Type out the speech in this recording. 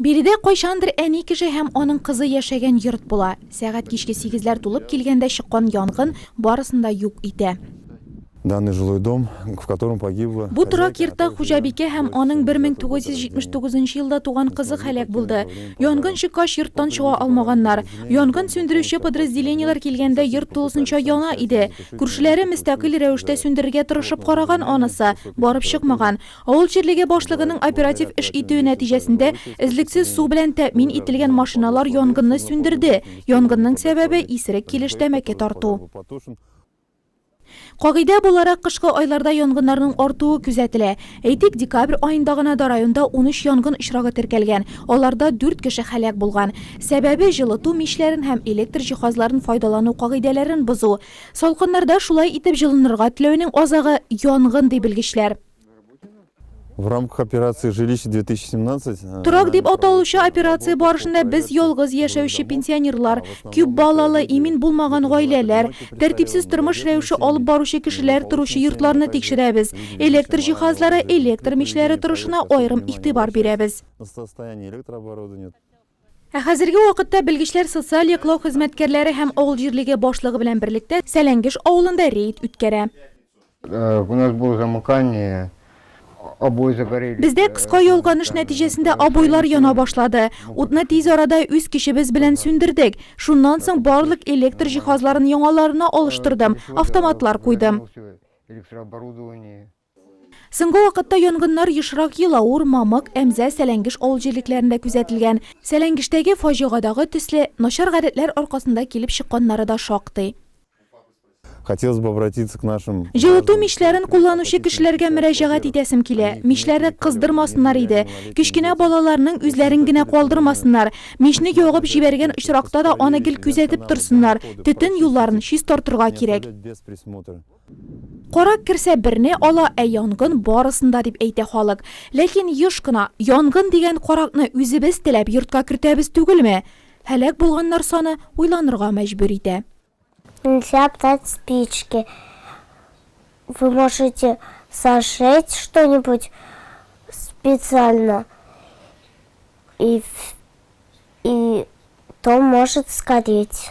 Биредә кайчандыр әни кеше һәм аның кызы яшәгән йорт була. Сәгать кичке сигезләр тулып килгәндә чыккан янгын барысын да юк итә. Данный жилой дом, в котором погибла... Бу торак йортта хуҗабикә һәм аның 1979 нчы елда туган кызы һәлак булды. Янгын чыккач, йорттан чыга алмаганнар. Янгын сүндерүче подразделениеләр килгәндә йорт тулысынча яна иде. Күршеләре мөстәкыйль рәвештә сүндерергә тырышып караган, анысы барып чыкмаган. Авыл җирлеге башлыгының оператив эш итүе нәтиҗәсендә эзлексез су белән тәэмин ителгән машиналар янгынны сүндерде. Янгынның сәбәбе, исерек килеш тәмәке тарту. Кагыйдә буларак, кышкы айларда янгыннарның артуы күзәтелә. Әйтик, декабрь аенда гына да районда унөч янгын очрагы теркәлгән, аларда дүрт кеше һәлак булган. Сәбәбе, җылыту мичләрен һәм электр җиһазларын файдалану кагыйдәләрен бозу. Салкыннарда шулай итеп җылынырга теләүнең азагы, янгын, ди белгечләр. В рамках операции Жилище 2017 э, Торак дип аталучы операция барышында без ялгыз яшәүче пенсионерлар, күп балалы, имин булмаган гаиләләр, тәртипсез тормыш рәвеше алып баручы кешеләр торучы йортларны тикшерәбез. Электр җиһазлары, электр мичләре торышына аерым игътибар бирәбез. Ә хәзерге вакытта белгечләр социаль яклау хезмәткәрләре һәм авыл җирлеге башлыгы белән берлектә Сәләнгеш авылында рейд үткәрә. Бездә кыска ялганыш нәтиҗәсендә обойлар яна башлады. Утны тиз арада үз көчебез белән сүндердек. Шуннан соң барлык электр җиһазларын яңаларына алыштырдым, автоматлар куйдым. Соңгы вакытта янгыннар ешрак Елаур, Мамык, Әмзә, Сәләнгеш авыл җирлекләрендә күзәтелгән. Сәләнгештәге фаҗигадагы төсле, начар гадәтләр аркасында килеп чыкканнары да шактый. Хотелось бы обратиться к нашим. Җылыту мичләрен кулланучы кешеләргә мөрәҗәгать итәсем килә. Мичләре кыздырмасыннар иде. Кечкенә балаларның үзләрен генә калдырмасыннар. Мичне ягып җибәргән очракта да аны гел күзәтеп торсыннар. Төтен юлларын чистартырга кирәк. Карак керсә берне ала, ә янгын барысында дип әйтә халык. Ләкин еш кына, янгын дигән каракны үзебез теләп йортка кертәбез түгелме? Һәлак булганнар саны уйланырга мәҗбүр итә. Нельзя обтать спички. Вы можете зажечь что-нибудь специально и и то может сгореть.